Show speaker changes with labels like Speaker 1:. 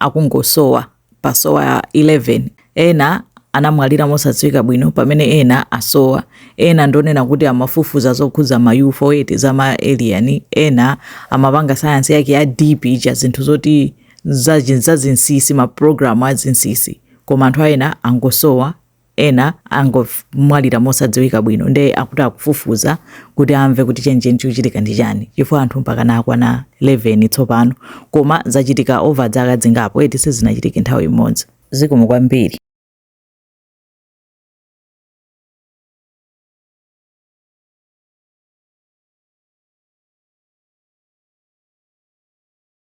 Speaker 1: akungosowa pasowa 11 ena anamwalira mosadziwika bwino pamene ena asowa ena ndonena kuti amafufuza zokhudza ma UFO eti za ma alien ena amapanga sayansi yake ya deep ija zinthu zoti zazinsisi ma program azinsisi koma anthu ena angosowa ena angomwalira mosadziwika bwino nde akuti akufufuza kuti amve kuti chenicheni chikuchitika ndi chani chifukwa anthu mpakana akwana 11 tsopano koma zachitika over dzaka dzingapo eti sizinachitike nthawi imodzi zikomo kwambiri